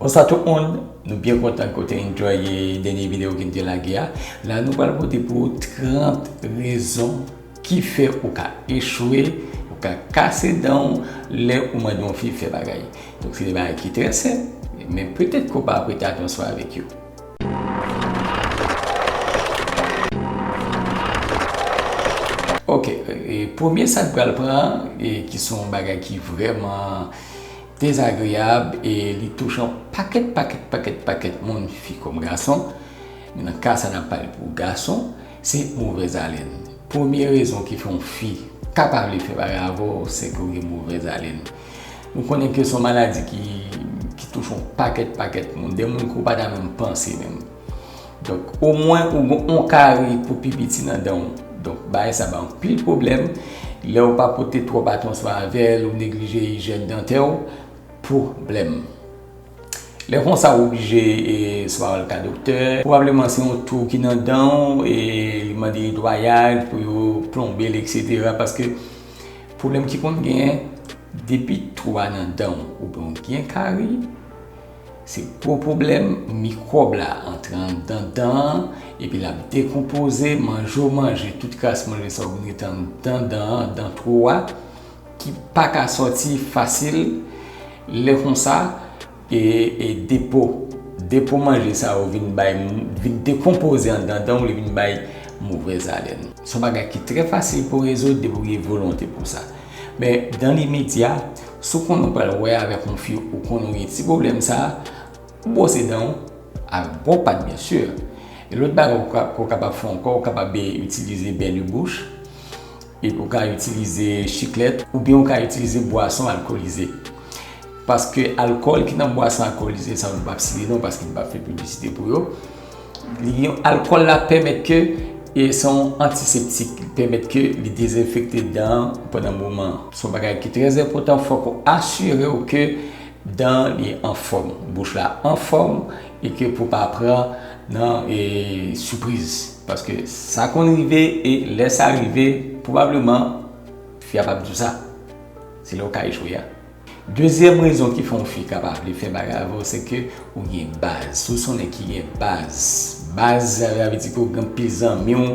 Bonsoir tout moun, nou byen kontan ke w te enjoye dènye video ke n te lage a. La nou pral pote pou ou 30 rezon ki fè ou ka echwe, ou ka kase dan w lè ou mande yon fi fè bagay. Donk se de bagay ki trè senp, men petèt ke w pa prete atansyon avèk yo. Ok, premye sa n pral pran, ki se yon bagay ki vrèman. dezagreyab e li touche yon pakèt pakèt pakèt pakèt moun fi kòm gason men nan ka sa n ap pale pou gason se movèzalèn premye rezon ki fè yon fi ka pa vle fè bagay avè w se ke w gen movèzalèn nou konnen ke se yon maladi ki touche yon pakèt pakèt moun de moun ke w pa ta menm panse menm. Donk omwen ou gen yon kari pou pi piti nan dan ou. Donk bagay sa bay anpil pwoblèm. Lè ou pa pote twòp atansyon avè l, ou neglije ijyèn dantè ou, pwoblèm. Lè konsa ou oblije swa al ka doktè. Pwobableman se yon twou ki nan dan ou e li mande netwayaj pou yo plonbe l eksetera paske pwoblèm ki konn gen depi twou a nan dan ou. Ou gen kari, Se gwo pwoblèm, mikwòb la antre anndan dan an epi l ap dekonpoze manje w manje, tout kras manje sa yo vin rete anndan dan an, dan twou a, ki pa ka sòti fasil, lè konsa e depo, depo manje sa yo vin bay, vin dekonpoze anndan dan w, li vin bay movèz alèn. S on bagay ki trè fasil pou rezoud depi w gen volonte pou sa. Men dan le medya, si w konnen w pral wè avèk yon fi ou konnen w gen ti pwoblèm sa, ou bwose dan w ak bon pat byen si. Yon lòt bagay ke w kapab fè ankò, ou kapab itilize bèli bouch, epi ou ka itilize chiklèt, oubyen ou ka itilize bwason alkolize. Paske alkòl ki nan bwason alkolize sa yo, m pap site non paske m pap fè piblisite pou yo. Alkòl la pèmèt ke se yon antiseptik, li pèmèt ke li dezenfekte dan an pandan moman an. Se yon bagay ki trè enpòtan, fòk ou asire w ke dan an li anfòm, bouch la anfòm e ke pou pa pran nan sipriz. Paske sa konn rive e lè sa rive, pwobableman fi a p ap di w sa. Se lè ou ka echwe a. Dezyèm rezon ki fè yon fi ka pa vle fè bagay avè w se ke ou gen baz. Si w se yon nèg ki gen baz, baz sa sa vle di ke w gen anpil zanmi w,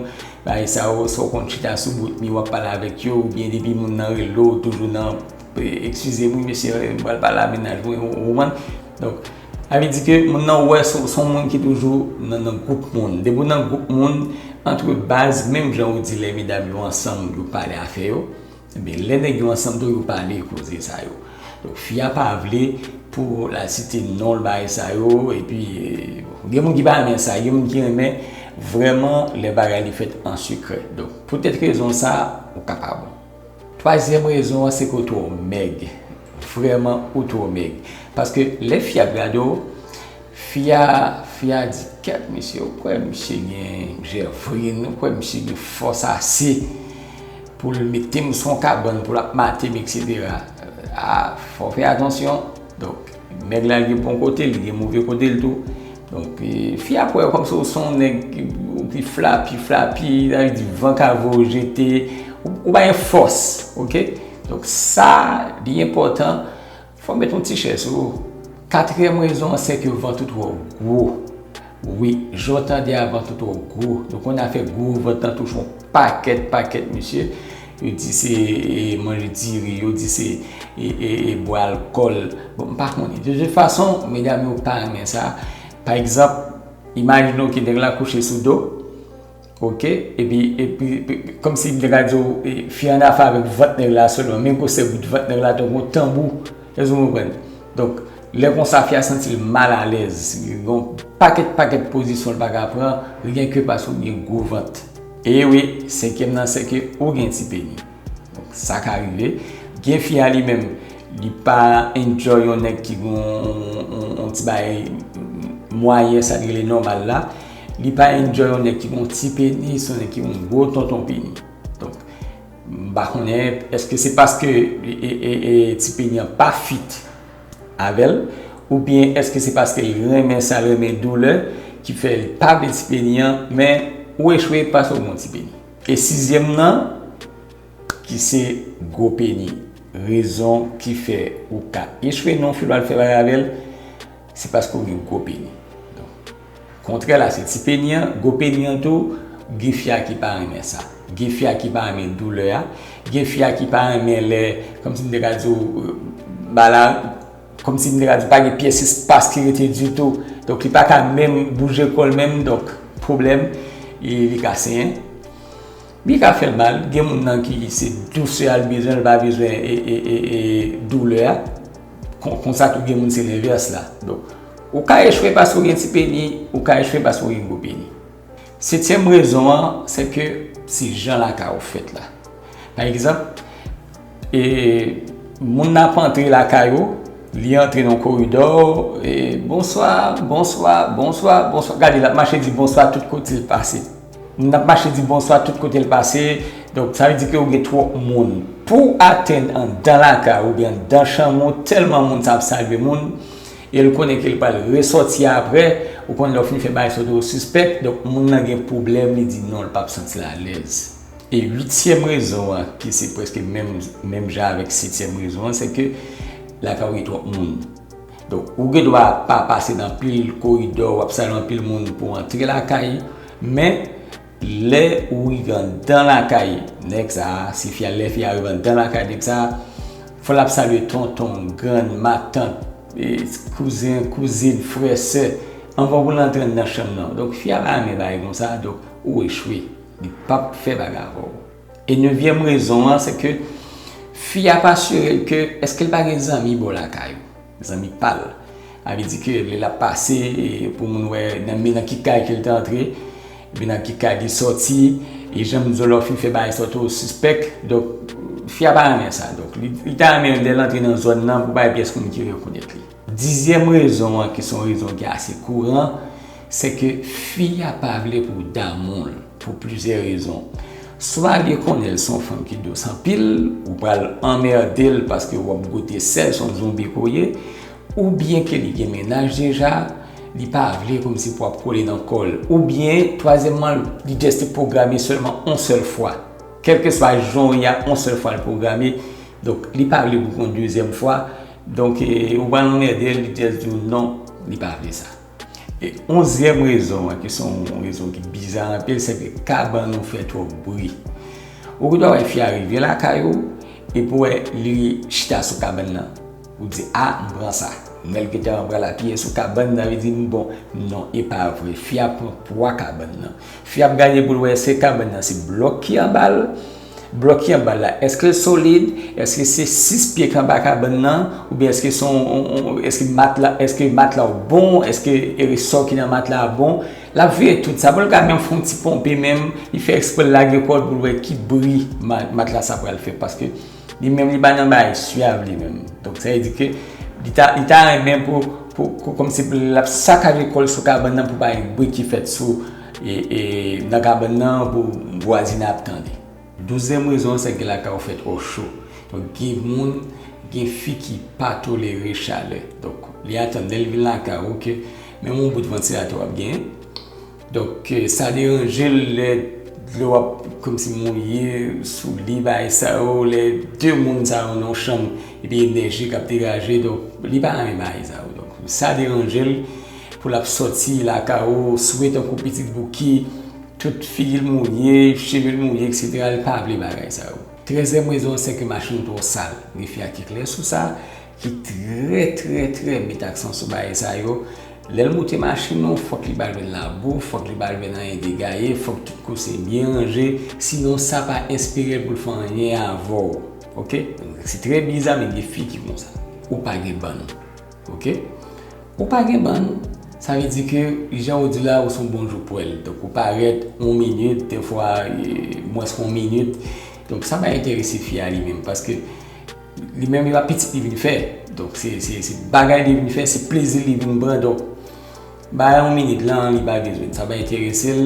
bagay sa yo sa w konn chita sou bout mi w ap pale avèk yo oubyen depi moun nan rele w toujou nan Ekskize m wi mesye m pral pale a mennaj mwen ou konprann? Donk sa vle di ke moun nan wè se w se yon moun ki toujou nan nan gwoup moun. Depi w nan gwoup moun antre baz menm jan ou di lè medam yo ansanm yo pale afè yo. Ebyen lè nèg yo ansanm tou yo pale koze sa yo. Donk fi a pa vle pou la site nonl bagay sa yo epi gen moun ki pa renmen sa gen moun ki renmen vrèman lè bagay li fèt an sekrè. Donk poutèt rezon sa ou ka pa bon. Twazyèm rezon an se ke ou twò mèg. Vrèman ou twò mèg. Paske lè fi a ap gade w. Fi a fi a di kèt mesye ou kwè misye gen mnjè vre nou kwè misye gen fòs ase poul metem son kabann poul ap matem etc ah fò fè atansyon donk nèg la gen bon kotel gen move kotel tou donk fi ap wè kòmsi ou son nèg ki flapi flapi sa vle di van ka voye ou jete ou pa gen fòs ok donk sa li enpòtan Fòm met yon ti chè sou ou. Katriyèm rezon an se ke vant ou twò gwo. Wi, jan w tande a vant ou twò gwo. Nou konnen afè gwo vant nan touche yon pakèt pakèt mesye. Yo di se manje diri, yo di se bwè alkòl. Bon, m pa konnen. De tout fason, medam yo pa renmen sa. Pa egzanp, imajine w ke nèg la kouche sou do. Ok epi epi komsi nèg la diw fi an afe avèk vant nèg la selman men gwosè bout vant nèg la tankou yon tanbou èske nou konprann donk lè konsa fi a santil mal alèz li gon pakèt pakèt pozisyon li paka pran ryenke paske ou gen gwo vant ewi senkyèm nan sèke ou gen ti peni. Donk sa ka rive. Gen fi a li menm, li pa enjoy yon nèg ki gen yon ti bagay mwayen, sa li rele nòmal la. Li pa enjoy yon nèg ki gen yon ti penis, yon nèg ki gen yon gwo tonton peni. Donk, m pa konnen, èske se paske ti peni an pa fit avè l? Oubyen èske se paske l renmen sa, l renmen doulè, ki fè l pa vle ti peni an? Men, ou echwe paske ou gen yon ti peni. E sizyèm nan, ki se gwo peni. Rezon ki fè ou ka echwe nan yon fi lwa al fè bagay avè l, se paske ou gen gwo peni. Kontrè la se ti peni an, gwo peni an tou, gen fi a ki pa renmen sa. Gen fi a ki pa renmen doulè a, gen fi a ki pa renmen lè, kòmsi m te ka di ou, ba la. Komsi m te ka di pa gen pyès espas ki rete ditou. Donk li pa ka menm bouje kò l menm donk pwoblèm e li ka senyen. Li ka fè mal. Gen moun nan ki se dousè a l bezwen l pa bezwen doulè a. Konsa tou gen moun se lenvès la. Donk ou ka echwe paske w gen ti peni, ou ka echwe paske w gen gwo peni. Setyèm rezon an, se ke se jan lakay ou fèt la. Pa egzanp, e, moun nan ap antre lakay ou, li antre nan koridò, e, bonswa, bonswa, bonswa, bonswa, gade l ap mache di bonswa tout kote l pase. Moun nan ap mache di bonswa tout kote l pase, donk sa vle di ke ou gen twòp moun. Pou w atenn anndan lakay ou oubyen anndan chanm ou, tèlman moun sa ap salye moun, E l konnen ke l pral resòti aprè, ou konn lè w fin fè bagay sou do sispèk, donk moun nan gen pwoblèm li di non l pap santi l alèz. E uityèm rezon an ki se prèske menm menm jan avèk setyèm rezon an se ke lakay ou gen twòp moun. Donk ou gen dwa pa pase nan anpil koridò, w ap sal anpil moun pou w antre lakay men Lè ou rive andan lakay nèg sa a, si fi a, lè fi a rive andan lakay nèg sa a, fò l ap salye tonton, grann, matant, kouzen, kouzin, frè, sè, anvan pou l antre anndan chanm nan. Donk, fi a pa renmen bagay kon sa, donk ou echwe. Li p ap fè bagay avè w. E nevyèm rezon an, se ke fi a pa sire l ke èske l pa gen zanmi bò lakay ou. Zanmi pal. A vle di ke lè lap pase pou moun wè nan men nan ki kay ke li te antre, epi nan ki kay li sòti, e janm Zòlòfi fè bagay sa tou sispèk, donk fi a pa renmen sa. Donk li ta renmen lèl antre nan zòn nan pou pa gen pyès moun ki rekonèt li. Dizyèm rezon an ki son rezon ki ase kouran, se ke fi a pa vle pou w damou l. Pou plizyè rezon. Swa li konnen l se yon fanm ki dous anpil, ou pral anmède l paske wap goute sèl se yon zonbi ke w ye, oubyen ke li gen mennaj deja, li pa vle kòmsi pou wap kole nan kò l, oubyen twazyèmman li just te pwograme sèlman yon sèl fwa. Kèlkeswa jan w ye a, yon sèl fwa l pwograme, donk li pa vle pou w gen yon dezyèm fwa, donk ou pral anmède l, li just di w non, li pa vle sa. E onzyèm rezon an ki se yon rezon ki biza anpil se ke kabann ou fè twòp bri. Ou gendwa wè fi a rive lakay ou epi ou wè li chita sou kabann nan. Ou di a m pran sa. Lè l gentan pral apiye sou kabann nan li di m bon non e pa vre. Fi a pran pwa kabann nan. Fi a ap gade pou l wè se kabann nan se blòk ki anba l Blòk ki anbal la eske l solid, eske se 6 pye ki anba kabann nan oubyen eske se yon eske matla eske matla w bon eske resò ki nan matla a bon l ap veye tout sa pou l ka menm fè yon ti ponpe menm li fè eksprè l lage kò l pou l wè ki bri matla sa pral fè paske li menm li pa nan bagay syav li menm donk sa vle di ke li ta li ta renmen pou pou kòmsi pou l ap sakaje kò l sou kabann nan pou pa gen bri ki fèt sou Nan kabann nan pou vwazin ap tande. Douzyèm rezon an se ke lakay ou fèt ò cho. Donk gen moun, gen fi ki pa tolere chalè. Donk li atann lè li vin lakay ou ke menm yon bout vantilatè w ap gen. Donk sa deranje l lè dlo ap kòmsi mouye sou li bagay sa yo. Lè de moun sa yo nan yon chanm epi enèji k ap degaje donk li pa renmen bagay sa yo. Donk sa deranje l. Pou lap soti lakay ou swe tankou pitit bouki tout figil mouye chevel mouye etc li pa vle bagay sa yo trèzyèm rezon an sèke machin twò sal refi a ki klè sou sa ki trè trè trè met aksan sou bagay sa yo lèl moute machin ou fòk li pa jwenn labou fòk li pa jwenn anyen de gaye fòk tout kouse byen ranje sinon sa pa enspirel poul fè anyen avèw ok se trè biza men gen fi ki konsa ou pa gen bann. Ok Ou pa gen bann Sa vle di ke jan ou di la ou son bon joupwèl Donk ou parèt yon minit dèfwa mwens ke yon minit Donk sa pa enterese fi a li menm Paske li menm li pa pitit li vin fè Donk se se bagay li vin fè se plezi li vin pran Donk ba yon minit lan li pa bezwen Sa pa enterese l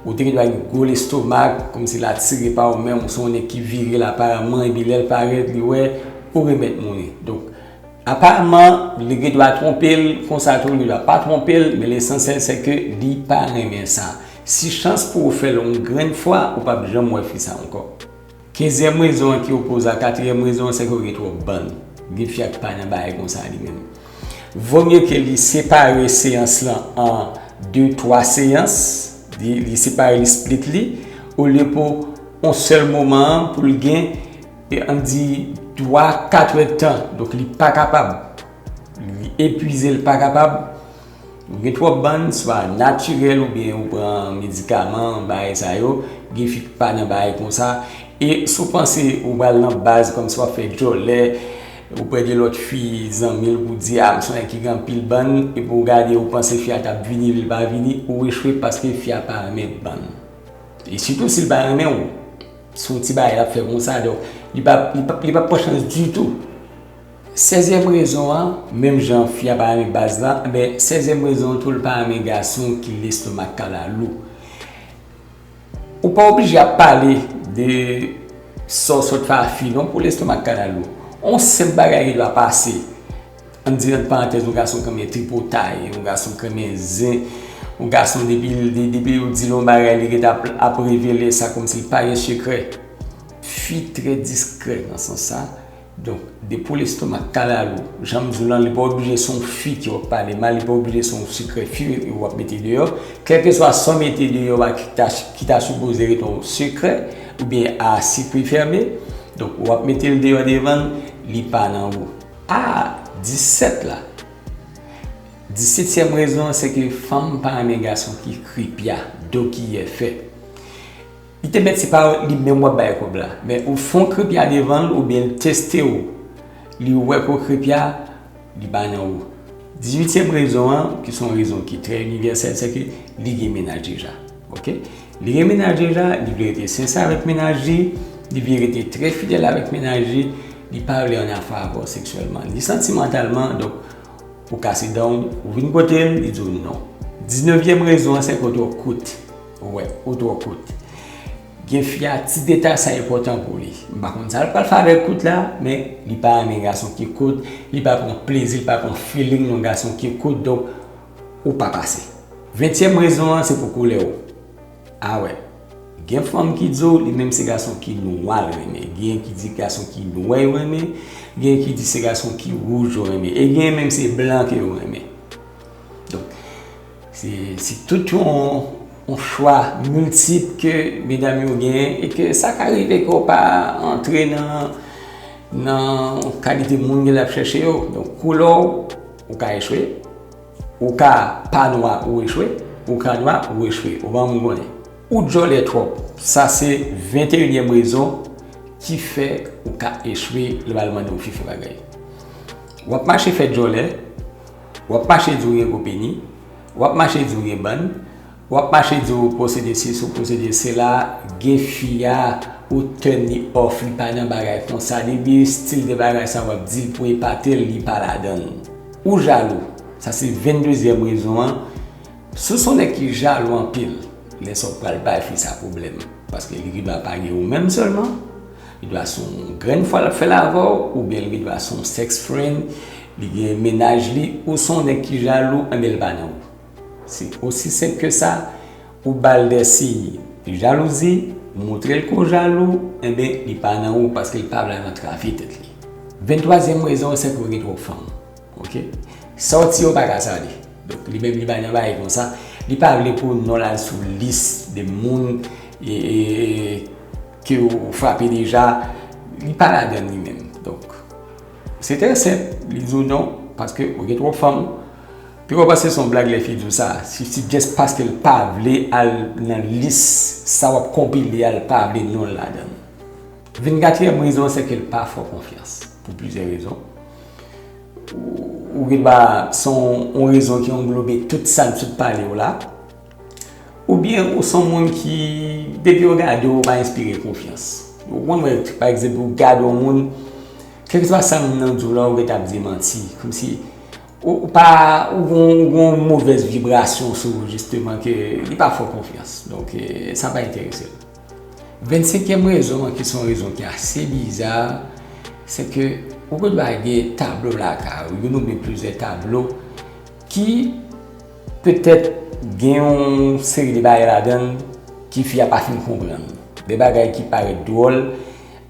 Ou te gen dwa gen gwo lestomak Kòm si l atire pa ou menm Ou son nèg ki vire l aparamman Epi lè l parèt li wè Ou remèt moun li Donk Aparman li gen dwa twonpel konsa tou li dwa pa twonpel men lesansyèl se ke li pa renmen sa. Si chans pou ou fèl yon grenn fwa ou pap janm wè fi sa ankò. Kenzyèm rezon an ki opoze a katriyèm rezon an se ke ou gen twòp bann. Gen fi ak pa nan bagay konsa li menm. Vomye ke li separe seyans lan an 2, 3 seyans, li separe li split li olye pou yon sèl moman an poul gen E an di 3 a 4 è tan, donk li pa kapab, li epwize l pa kapab, ou gen twòp bann, swa natirèl ou byen ou pran medikaman, bagay sa yo, gen fi ki pa nan bagay kon sa, e si w panse ou pral nan baz kòmsi w ap fè djòlè, ou pè gen lòt fi zanmi l pou di a m sonnen ki gen anpil bann, epi w gade ou panse fi a t ap vini epi l pa vini, ou echwe paske fi a pa renmen bann. E sitou si l pa renmen w. Se yon ti bagay l ap fè konsa, donk li pa li pa pran chans ditou. Sezyèm rezon an, menm jan fi a pa renmen baz la, enben sezyèm rezon an tou li pa renmen gason ki lestomak kalalou. Ou pa oblije ap pale de sa w sot fè a fi non pou lestomak kalalou. On senp bagay ki dwe ap pase Ann di ant parantèz yon gason knmen tripotay, yon gason knmen zen, yon gason depi yo di l yon bagay li ret ap revele sa kòmsi l pa gen sekrè. Fi trè diskrè nan sans sa, donk de po lestomak, kalalou, jan m di w lan li pa oblije se yon fi ki wap pale mal, li pa oblije se yon sekrè fi wap mete deyò, kèlkeswa sa w mete deyò a ki ta sipoze ret yon sekrè oubyen a sikwi fèmen, donk wap mete l deyò devan l, li pa nan ou. A, 17 la. Disetyèm rezon an se ke fanm pa renmen gason ki kripya, do kiyè fè. Li te mèt se pa li menm w ap bay kòb la, men ou fon kripya devan l oubyen l teste w, li wè ke w kripya, li ba nan ou. Dizuityèm rezon an, ki se yon rezon ki trè inivèsèl, se ke li gen menaj deja. Ok Li gen mennaj li la Li vle rete sense avèk mennaj li Li vle rete trè fidèl avèk mennaj li Li pa vle an afè avè w seksyèlman Ni santimantalman Donk Ou kase dan w Ou vin kote l Li di w non Diznevyèm rezon an sèke w twò kout Ou wè Ou twò kout Gen fi a ti detay sa enpòtan pou li M pa konn sa l pral fè avèk kout la Men Li pa renmen gason ki kout Li pa pran plezi Li pa pran feeling nan gason ki kout Donk ou pa pase. Ventyèm rezon an se pou koulè w. A wè. Gen fanm ki di w li menm se gason ki nwa l renmen, genyen ki di gason ki nwè yo renmen, genyen ki di se gason ki wouj yo renmen e genyen menm se blan ke yo renmen. Donk, se se tout yon chwa miltip ke medam yo genyen e ke sa ka rive ke w pa antre nan nan kalite moun ke l ap chèche yo. Donk, koulè w. Ou ka echwe, ou ka pa nwa ou echwe, ou ka nwa ou echwe. Ou ban moun konnen. Ou djòlè twòp. Sa se 21 nyèm rezon ki fè ou ka echwe lè bal mande ou fifi bagay. W ap mache fè djòlè, w ap mache di w gen gwo peni, w ap mache di w gen bann, Wap mache di ou posede sesi ou posede sela gen fi a ou turn li off li pa nan bagay konsa li di stil de bagay sa wap dil pou epatel li pa ladanl ou jalou sa se 22 zyèm rezon an sou son nèg ki jalou anpil lè sa ou pral bay fi sa pwoblèm paske li gendwa pa gen ou menm sèlman li dwa son grenn fwa lap fèl avèw oubyen li gendwa son sex friend li gen mennaj li ou son nèg ki jalou enbyen li pa nan ou. Se osi senp ke sa, ou bal de siy jalouzi, moutrel ke w jalou, enben li pa nan ou paske li pa vle al nan travy tèt li. 23 zièm rezon an se ke w gen twòp fanm. Ok. Sa w ti yo pa ka sale. Donk li menm li bay nan baye konsa, li pa vle pou non l al sou lis de moun ke w frape deja, li pa ladann li menm. Donk se trè senp, li di w non paske w gen twòp fanm. Pi fò pase son blag lè fi diw sa, si se just paskel pa vle al nan lis sa wap konpile a l pa vle nonl ladann. Vin katriyèm rezon an sèke l pa fè w konfyans pou plizyè rezon. Ou gen dwa son w rezon ki anglobe tout sa n sot pale yo la. Oubyen ou son moun ki depi yo gade w ou pa enspire konfyans. Ou konn wè pa egzanp ou gade yon moun kèlkeswa sa moun nan diw la ou gentan ap di manti kòmsi Ou pa ou gon ou gon movèz vibrasyon sou ou jisteman ke li pa fè w konfyans. Donk sa pa enterese l. Vennsenkyèm rezon an ki se yon rezon ki ase biza, se ke ou gon dwa gen tablo lakay ou, youn oubyen plizyè tablo ki petèt gen yon seri de bagay ladan l ki fi a pa fin konprann. De bagay ki parèt dwòl,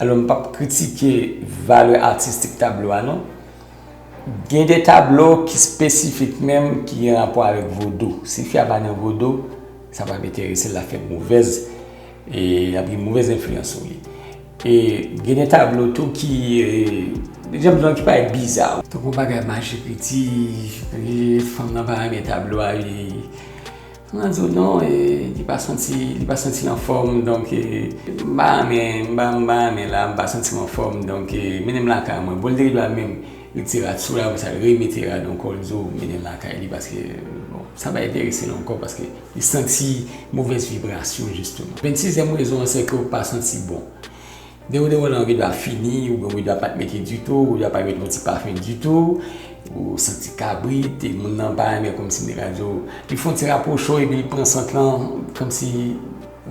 alò m pap kritike valè atistik tablo a non. Gen de tablo ki spesifik menm ki gen rapò avèk vodou. Si fi a pa nan vodou, sa pa p enterese l, l ap fè movèz, e l ap gen movèz enfliyans sou li. E gen de tablo tou ki, e jan m di w lan ki parèt biza. Tankou bagay maji piti, fanm nan pa renmen tablo a li. Mwen di w non e li pa santi li pa santi l anfòm donk e m pa anyen m pa m pa anyen la m pa santi m anfòm donk e mennen m lakay mwen bon li te gen dwa menm retire t sou la apre sa l remete rad ankò l di w mennen l lakay li paske bon sa pa enterese l ankò paske li santi movèz vibrasyon jistima vennsizèm rezon an sèke w pa santi bon Gen yon dewonan ride a fini oubyen ride a pat mete ditou, ride a pa mete yon ti pafen ditou, ou santi kabrit e moun nan pa renmen kòmsi nèg la di w, li fè yon ti rapwoche epi li pran sant lan kòmsi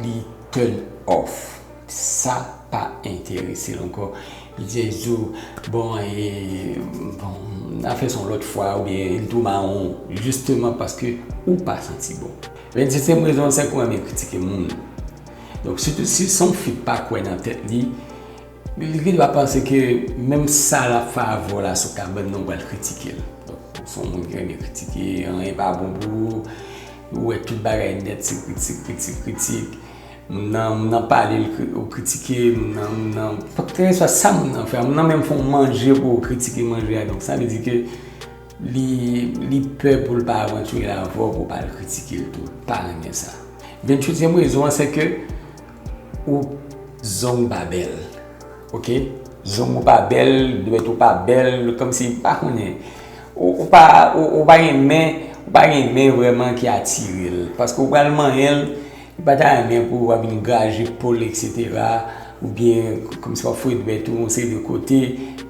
li turn off. Sa pa enterese l ankò. Li jès di w, bon e, bon, n a fè sa yon lòt fwa oubyen li tou mawon jisteman paske ou pa santi bon. Venn-setyèm rezon an se ke w renmen kritike moun. Donk si son fi k pa kwè nan tèt li, li gen dwa panse ke menm sa l ap fè avè w la sou kabann nan ou pral kritike l. Donk ou se yon moun ki renmen kritike, anyen pa bon pou ou, ou wè tout bagay nèt se kritik, kritik, kritik. Moun nan, moun nan pale ou kritike, moun nan, moun nan, kèlkeswa sa moun nan fè, moun nan menm fè yon manje pou ou kritike manje a. Donk sa vle di ke Li pè pou l pa retire avè w pou w pa al kritike l tou. L pa renmen sa. Ventyèzyèm rezon an se ke ou zong ou pa bèl. Ok? Zong ou pa bèl, dwèt ou pa bèl, kòmsi m pa konnen. Ou pa renmen, ou pa renmen vrèman ki atire l. Paske ou pral manyen l. Li pa ta renmen pou ou ap vin graje po l eksetera oubyen kòmsi w ap foure dwèt ou yon seri de kote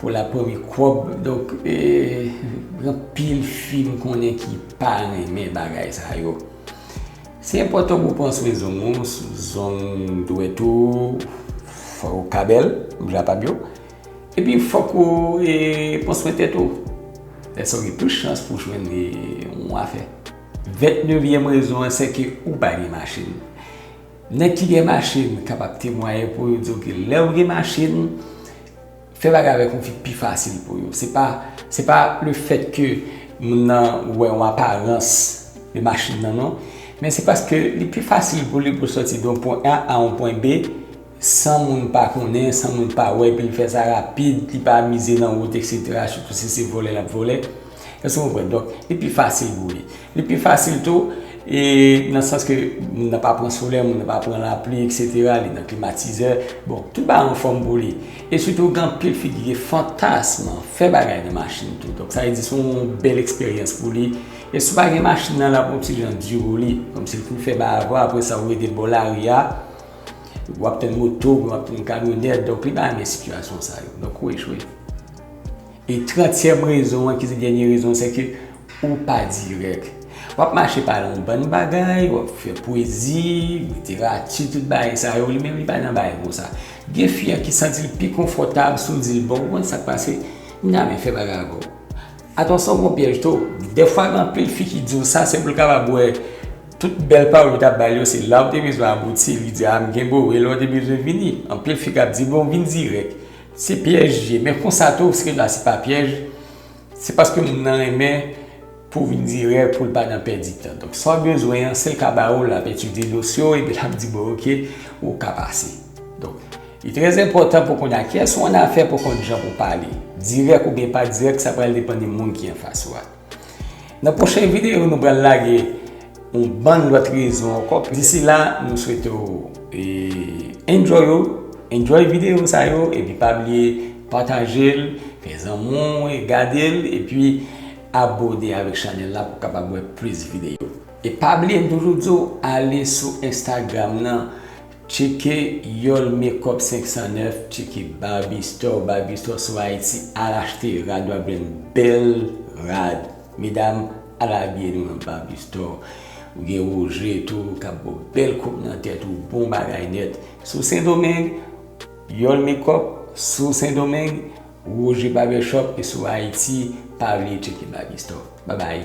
pou l ap pran mikwòb. Donk, gen anpil fi m konnen ki pa renmen bagay sa yo. Se enpòtan pou w pran swen zong ou, zong dwèt ou, fò ou ka bèl, m jan pa m yo. Epi fòk ou pran swen tèt ou. Lè sa ou gen plis chans pou w jwenn yon afè. Vent nevyèm rezon an se ke ou pa gen machin. Nèg ki gen machin kapab temwaye pou yo di w ke lè ou gen machin, fè bagay avèk yon fi pi fasil pou yo. Se pa, se pa le fèt ke moun nan wè yon aparans de machin nan non. Men se paske li pi fasil pou li pou l sòti de yon pwen A a yon pwen B. San moun pa konnen, san moun pa wè, epi li fè sa rapid, li pa mize nan wout eksetera, sitou si se vole lap vole. Èske nou konprann? Donk, li pi fasil pou li. Li pi fasil tou, e nan sans ke moun nan pa pran solè, moun nan pa pran lapli eksetera, li nan klimatizè, bon, tout bagay an fòm pou li. E sitou gen anpil fi ki gen fantasm fè bagay nan machin tou. Donk, sa vle di se yon bèl eksperyans pou li. E si ou pa gen machin nan, lap yon ti jan di pou li. Kòmsi li fin fè bagay avèw, apresa ou rete bò lari a. Ou ap tann moto, ou ap tann kamyonèt, donk li pa renmen sitiyasyon sa yo. Donk ou echwe. E trantyèm rezon an ki se dènye rezon an, se ke ou pa dirèk. W ap mache pale yon bann bagay, w ap fè pwezi, literati, tout bagay sa yo, li menm li pa nan bagay kon sa. Gen fi an ki santi l pi konfòtab si w di l bon, ou konn sa k pase, m ta renmen fè bagay avè w. Atansyon gon pyèj too, dèfwa gen anpil fi ki diw sa se poul kapab wè tout bèl pawòl ou tap bay yo se law te bezwen abouti li di a m gen boo e lè ou te bezwen vini anpil fi kap di bon vin dirèk se pyèj li ye men konsa tou se la se pa pyèj se paske moun nan renmen pou vin dirèk poul pa nan pèdi tan donk sa ou bezwen an sil ka ba ou lap etidye dosye ou epi lap di bon ok ou ka pase donk. Li trè enpòtan pou konn a kiyès ou annafè pou konn jan pou pale. Dirèk oubyen pa dirèk sa pral depann de moun ki anfas ou a. Nan pwochen videyo nou pral lage yon bann lòt rezon ankò. Disi la nou swete w enjoy ou, enjoy videyo sa yo epi pa bliye pataje l, fè zanmi w gade l epi abone avèk chanèl la pou w kapab wè plis videyo. E pa bliye m toujou di w ale sou Instagram nan. Tcheke Yol Makeup 509 Tcheke Barbie Store Barbie Store sou Haiti Al achte rad wap jwenn bèl rad Medam al abiye nou nan Barbie Store Ou gen Roger tou kap baw bèl koup nan tèt ou bon bagay nèt Sou Sendomeng Yol Makeup Sou Sendomeng Roger Barbershop e sou Haiti Pa bliye tcheke Barbie Store Babay.